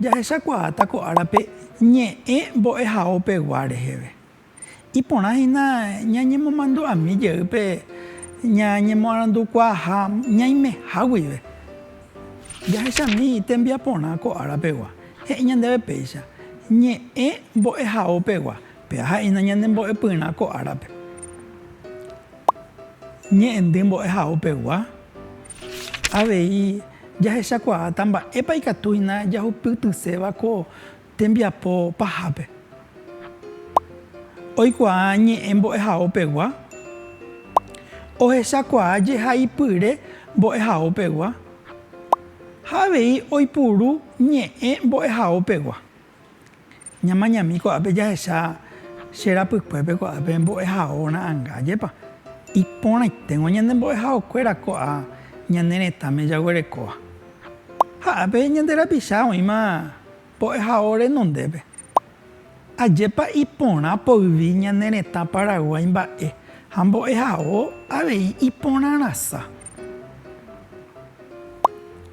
Jahechakuaáta ko árape ñe'ẽ mbo'ehaópegua reheve. Iporã hína ñañemomandu'ami jey pe ñañemoarandukuaaha ñaimeha guive. Jahechami tembiaporã ko árapegua, he'i ñandéve péicha, ñe'ẽ mbo'ehaópegua, péva ha'éna ñanembo'epyrã ko árape. Ñe'ẽndy mbo'ehaópegua, avei jahechakuaáta mba'épa ikatu hína jahupytyséva ko tembiapo pahápe. Oikuaa ñe'ẽ mbo'ehaópegua, ohechakuaa jehaipyre mbo'ehaópegua ha avei oipuru ñe'ẽ mbo'ehaópegua. Ñamañami ko'ápe jahecha che rapykuépe ko'ápe mbo'ehao ra'anga jepa. Iporãiténgo ñane mbo'ehaokuéra ko'a ñane retãme jaguerekóva. Ha ápe ñande rapicha oĩma mbo'ehao renondépe. Ajépa iporã poyvi ñane retã Paraguái mba'e ha mbo'ehao avei iporãrasa.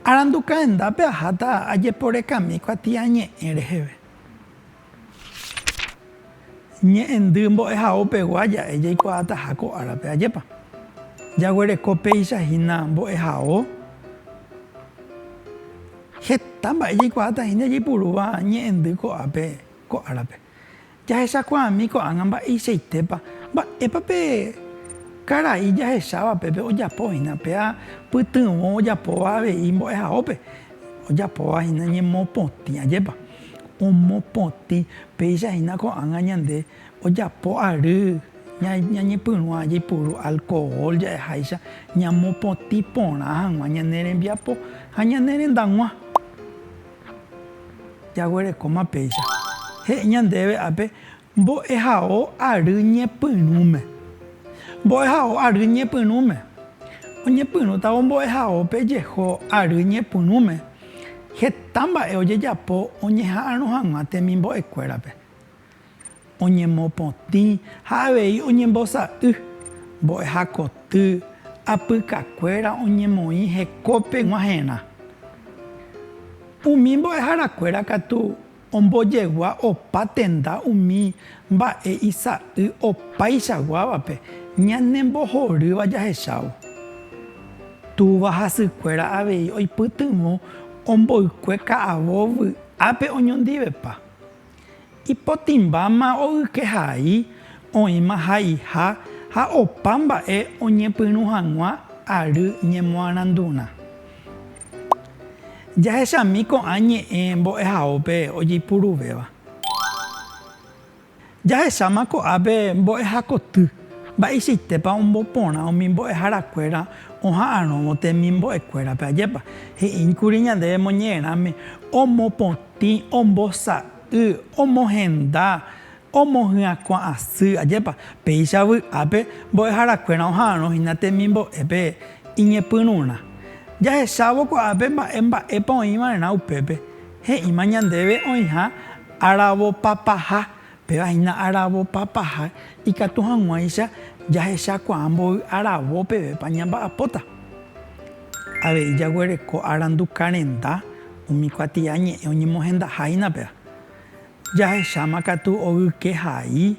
Arandu kaendápe aháta ajeporekami ko atiañe'ẽ reheve. Ñe'ẽndy mbo'ehao pegua ja'e jaikuaataha ko árape ajépa jaguereko péicha hína mbo'ehao. Heta mba'e jaikuaata hína jaipurúva ñe'ẽndy ko'ápe ko árape. Jahechakuaami ko'ág̃a mba'eichaitépa, mba'épa pe karai jahecháva pépe ojapo hína, pe apytyvõ ojapóva avei mbo'ehaópe, ojapóva hína ñemopotĩ, ajépa omopotĩ, péicha hína ko'ág̃a ñande ojapo ary ñañepyrũa jaipuru alkohol ja'eháicha ñamopotĩ porã hag̃ua ñane rembiapo ha ñane rendag̃ua. Jaguerekóma péicha. He'i ñandéve ápe, Mbo'ehao ary ñepyrũme. Mbo'ehao ary ñepyrũme. Oñepyrũtavo mbo'ehaópe jeho ary ñepyrũme, heta mba'e ojejapo oñeha'arõ hag̃ua temimbo'ekuérape. oñemopotĩ ha avei oñembosa'y, mbo'eha koty, apykakuéra oñemoĩ hekópe g̃uahẽrã. Umi mbo'eharakuéra katu ombojegua opa tenda umi mba'e isa'y opaichaguávape ñanembohorýva jahechávo. Túva hasykuéra avei oipytyvõ omboykue ka'avo vy'ápe oñondivepa. Ipotĩmbáma ogyke hai, oĩma haiha ha opa mba'e oñepyrũ hag̃ua ary ñemoarandurã. Jahechami ko'ã ñe'ẽ mbo'ehaópe ojeipuruvéva. Jahecháma ko'ápe mbo'ehakoty, mba'eichaitépa omboporã umi mbo'eharakuéra oha'arõvo temimbo'ekuérape ajépa, he'íkuri ñandéve moñe'ẽrãme omopotĩ. Tĩ ombosa'y, omohenda, omohyãkuã asy, ajépa, péicha vy'ápe mbo'eharakuéra oha'arõ hína temimbo'épe iñepyrũrã. Jahechávo ko'ápe mba'e mba'épa oĩva'erã upépe, he'íma ñandéve oĩha aravopapaha Péva hína aravopa paha ikatu hag̃uáicha jahechakuaa mboy aravo pevépa ñamba'apóta. Avei jaguereko arandu karenda umi kuatia ñe'ẽ oñemohendaha hína péva. Jahecháma katu ogyke hai.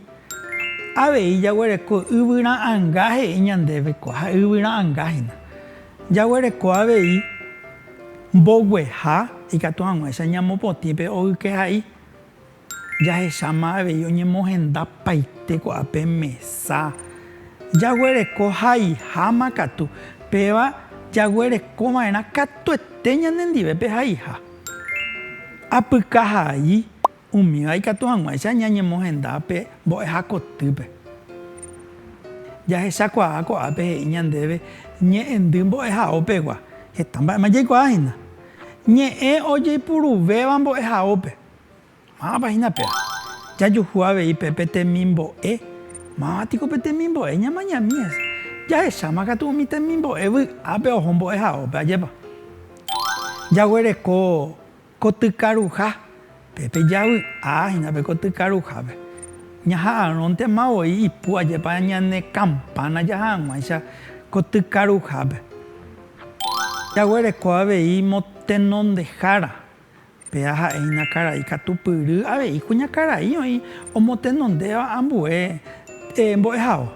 Avei jaguereko yvyra anga he'i ñandéve ko ha yvyra anga hína. Jaguereko avei mbogueha ikatu hag̃uáicha ñamopotĩ pe ogyke hai. Jahecháma avei oñemohenda paite ko'ã pe mesa. Jaguereko haiháma katu, péva jaguereko va'erã katuete ñanendive pe haiha. Apyka hai umíva ikatu hag̃uáicha ñañemohenda pe mbo'ehakotýpe. Jahechakuaa ko'ápe he'i ñandéve ñe'ẽndy mbo'ehaópegua. Heta mba'éma jaikuaáhína. Ñe'ẽ ojeipuruvéva mbo'ehaópe. Mávapa hína péva jajuhu avei pe pe temimbo'e? Máva piko pe temimbo'e ñamañami hese? Jahecháma katu umi temimbo'e vy'ápe oho mbo'ehaópe, ajépa? Jaguereko kotykaruha, pe pe javy'a hína pe kotykaruhápe. Ñaha'arõntema voi ipu, ajépa ñane kampána jaha hag̃uáicha kotykaruhápe. Jaguereko avei mo tenondehára. Pe aha'e iñakãra'i katu pyry avei kuñakãra'i oĩ omotenondéva ambue mbo'ehao.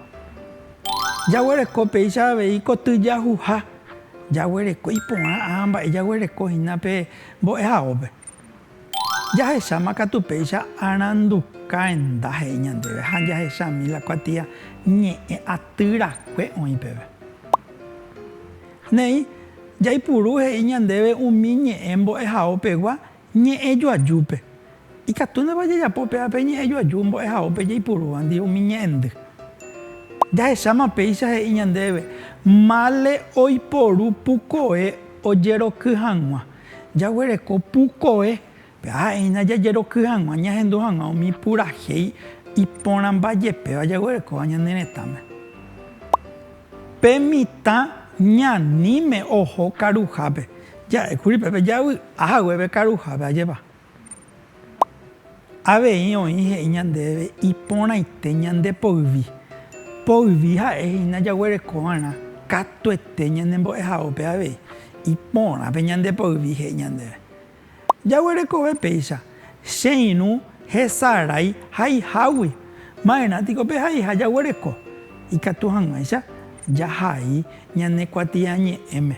Jaguereko péicha avei koty jahuha, jaguereko iporã ã mba'e jaguereko hína pe mbo'ehaópe. Jahecháma katu péicha aranduka henda he'i ñandéve ha jahechami la kuatia ñe'ẽ aty rakue oĩ peve. Néi, jaipuru he'i ñandéve umi ñe'ẽ mbo'ehaópegua ñe'ẽjoajúpe. Ikatúnema jajapo upéva pe ñe'ẽjoaju mbo'ehaópe jaipurúvandi umi ñe'ẽndy? Jahecháma péicha he'i ñandéve mále oiporu pukoe ojeroky hag̃ua. Jaguereko pukoe Ha'eína jajeroky hag̃ua ñahendu hag̃ua umi purahéi iporãmba jepéva jaguerekóva ñane retãme. Pe mitã ñaníme oho karuhápe, ja'ékuri pépe javy'a haguépe karuhápe ajépa. Avei oĩ he'i ñandéve iporãite ñande poyvi. Poyvi ha'e hína jaguereko va'erã katuete ñanembo'ehao pe avei. Iporãpe ñande poyvi he'i ñandéve. Jaguerekove péicha, che irũ hesarái haihágui. Ma'erã tiko pe haiha jaguereko, ikatu hag̃uáicha jahai ñane kuatiañe'ẽme.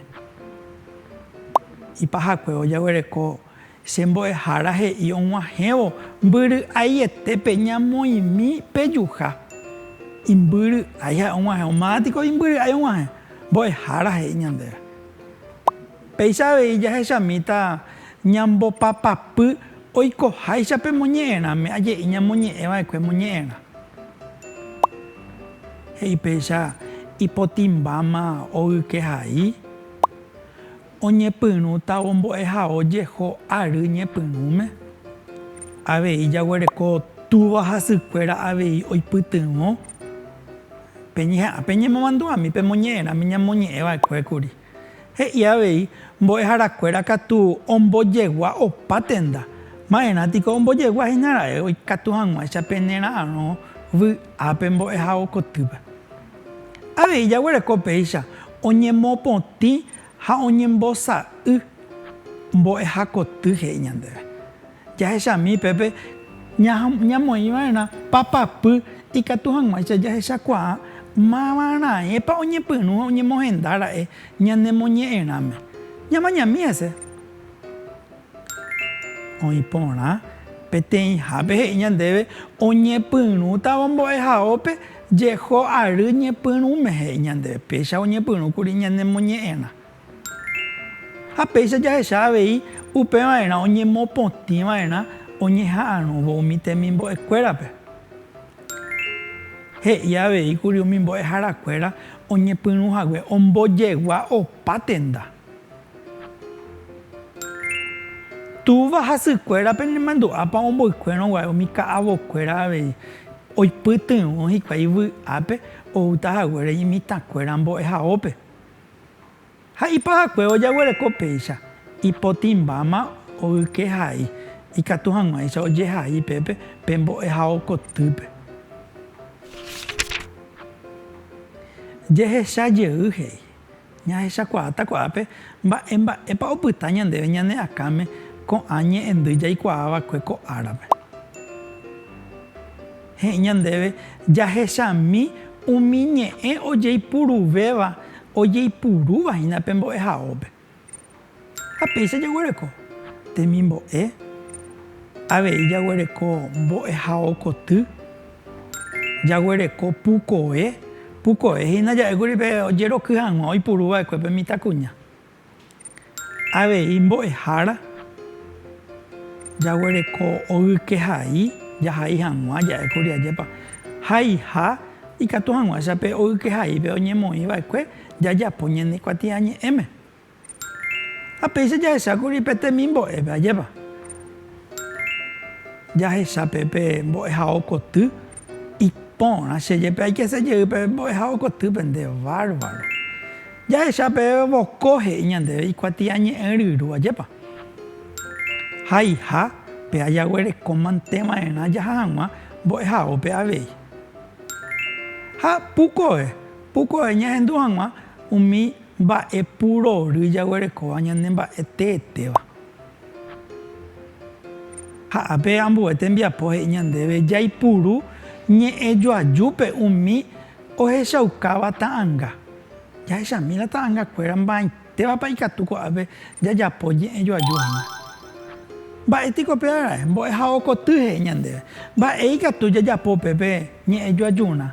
Ipahakuévo jaguereko che mbo'ehára he'i og̃uahẽvo mbyry'aietépe ñamoĩmi pejuha. Imbyry'ái ha'e og̃uahẽvo. Ma'ã tiko imbyry'ái og̃uahẽ, mbo'ehára he'i ñandéve. Péicha avei jahechamíta ñambopapapy oikoháicha pe moñe'ẽrãme aje'i ñamoñe'ẽ va'ekue moñe'ẽrã. He'i péicha ipotĩmbáma ogyke hai, oñepyrũta ombo'ehao jeho ary ñepyrũme. Avei jaguereko túva hasykuéra avei oipytyvõ pe ñeha'ã pe ñemomandu'ami pe moñe'ẽrãme ñamoñe'ẽ va'ekue kuri. He'i avei, Mbo'eharakuéra katu ombojegua opa tenda. Ma'erã piko ombojegua hína ra'e oikatu hag̃uáicha pene ra'arõ vy'ápe mbo'ehao kotýpe. Avei jaguereko péicha oñemopotĩ ha oñembosa'y mbo'ehakoty he'i ñandéve. Jahechami pépe ñamoĩva'erã papapy ikatu hag̃uáicha jahechakuaa mávaraẽpa oñepyrũ ha oñemohenda ra'e ñanemoñe'ẽrãme. Ñamañami hese. Oĩ porã peteĩhápe he'i ñandéve oñepyrũtavo mbo'ehaópe jeho ary ñepyrũme he'i ñandéve, péicha oñepyrũkuri ñanemoñe'ẽrã. Ha péicha jahecha avei upeva'erã oñemopotĩ va'erã oñeha'arõvo umi temimbo'e kuérape. He'i avei kuri umi mbo'ehara kuéra oñepyrũ hague ombojegua opa tenda. Túva ha sy kuéra pene mandu'ápa omboykuérõ guare umi ka'avo kuéra avei oipytyvõ hikuái vy'ápe oúta haguére imitã kuéra mbo'ehaópe. Ha ipy'aguapy ojaguereko péicha, ipotĩmbáma ogyke hai, ikatu hag̃uáicha ojehai pépe pe mbo'ehao kotýpe. Jehecha jey he'i, Ñahechakuaáta ko'ápe mba'e mba'épa opyta ñandéve ñane akãme ko'ã ñe'ẽndy jaikuaa va'ekue ko árape. He'i ñandéve jahechami umi ñe'ẽ ojeipuruvéva ojeipurúva hína pe mbo'ehaópe. Ha péicha jaguereko temimbo'e, avei jaguereko mbo'ehao koty, jaguereko pukoe, pukoe hína ja'ékuri pe ojeroky hag̃ua oipuru va'ekue pe mitãkuña. Avei mbo'ehára jaguereko ogyke hai, jahai hag̃ua, ja'e kuri ajépa haiha ikatu hag̃uáicha pe ogyke haípe oñemoĩ va'ekue jajapo ñane kuatiañe'ẽme. Ha péicha jahecha kuri pe temimbo'épe, ajépa jahecha pe mbo'ehao koty. Iporã, che jepe aikese jey pe mbo'ehao koty pende, bárbaro. Jahecha pe voko he'i ñandéve ikuatiañe'ẽ ryru, ajépa. Haiha pe ajaguereko mante va'erã jaha hag̃ua mbo'ehaópe avei. Ha pukove, pukove ñahendu hag̃ua umi mba'e purory jaguerekóva ñane mba'e teetéva. Ha ápe ambue tembiapo he'i ñandéve jaipuru ñe'ẽ joajúpe umi ohechaukáva ta'anga. Jahechami la ta'angakuéra mba'aitévapa ikatu ko'ápe jajapo ñe'ẽ joaju hína. Mba'e piko pe arai mbo'ehao koty he'i ñandéve? Mba'e ikatu jajapo pe pe ñe'ẽ joajurã?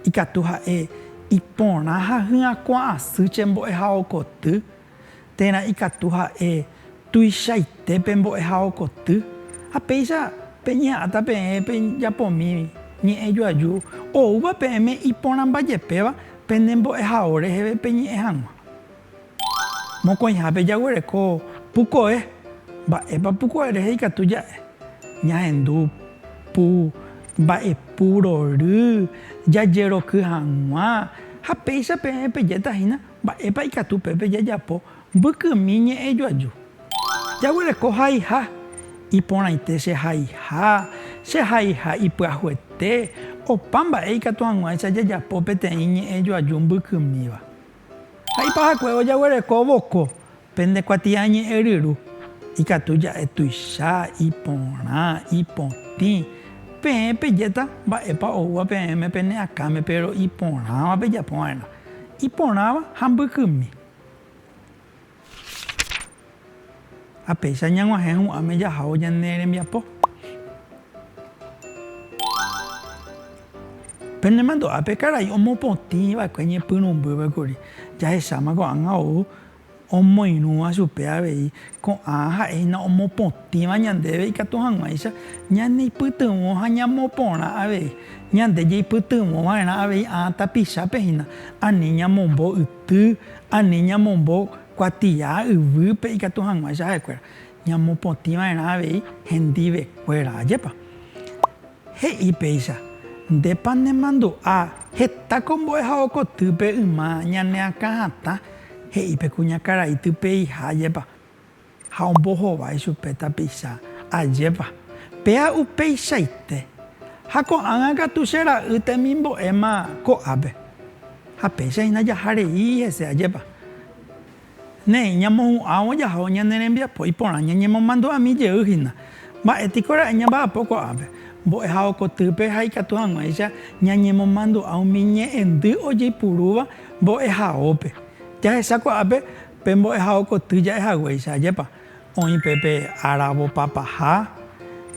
Ikatu ha'e iporã ha hyakuã asy che mbo'ehao koty. térã ikatu ha'e tuichaite pe mbo'ehao koty, ha péicha peñeha'ãta peẽ pe japomí ñe'ẽ joaju oúva peẽme iporãmbajepéva pene mbo'ehao reheve peñe'ẽ hag̃ua. Mokõihápe jaguereko pukoe. Mba'épa pukoe rehe ikatu ja'e? Ñahendu pu mba'epu rory jajeroky hag̃ua, ha péicha peẽ pejéta hína Mba'épa ikatu pépe jajapo mbykymi ñe'ẽ joaju? Jaguereko haiha, iporãite che haiha, che haiha ipyahuete, opa mba'e ikatu hag̃uáicha jajapo peteĩ ñe'ẽ joaju mbykymíva. Ha ipahakue ojaguereko voko, Pende kuatiañe'ẽryru ikatu ja'e tuicha, iporã, ipotĩ. Peẽ pejéta mba'épa oúva peẽme pene akãme péro iporãva pejapo va'erã. Iporãva ha mbykymi. Ha péicha ñag̃uahẽ hu'ãme jahávo ñane rembiapo. Pende mandu'ápe karai omopotĩ va'ekue ñepyrũmbýpe kuri. Jahecháma ko'ág̃a ou Omoirũva chupe avei, ko'ã ha'e hína omopotĩva ñandéve ikatu hag̃uáicha ñaneipytyvõ ha ñamoporã avei. Ñande jeipytyvõ va'erã avei ã tapichápe hína, ani ñamombo yty, ani ñamombo kuatia yvýpe ikatu hag̃uáicha ha'ekuéra, ñamopotĩ va'erã avei hendivekuéra. Ajépa! He'i péicha, Ndépa nemandu'a heta ko mbo'ehao kotýpe yma ñaneakã hatã he'i pe kuñakarai typeiha jepa. Ha ombohovái chupe tapicha ajépa. Péa upeichaite. Ha ko'ágã katu che ra'y temimbo'éma ko'ápe. Ha péicha hína jaha rei hese ajépa. Néi, ñamohu'ãvo jaho ñane rembiapo iporã ñañemomandu'ami jey hína. Mba'e piko ra'e ñamba'apo ko'ápe? Mbo'ehávo kotýpe ha ikatu hag̃uáicha ñañemomandu'a umi ñe'ẽndy ojeipurúva mbo'ehaópe. Jahecha ko'ápe pe mbo'ehávo koty ja'e haguéicha, ajépa oĩ pe pe áravo papaha,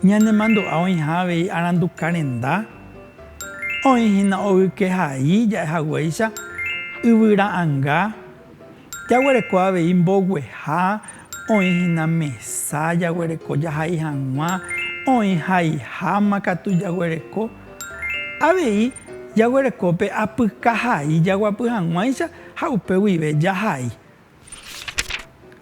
ñanemandu'a oĩha avei aranduka renda, oĩ hína oykehai ja'e haguéicha, yvyra'anga, Jaguereko avei mbogueha, oĩ hína mesa jaguereko jahai hag̃ua, oĩ haiháma katu jaguereko. Avei jaguereko pe apyka hai jaguapy hag̃uáicha ha upe guive jahai.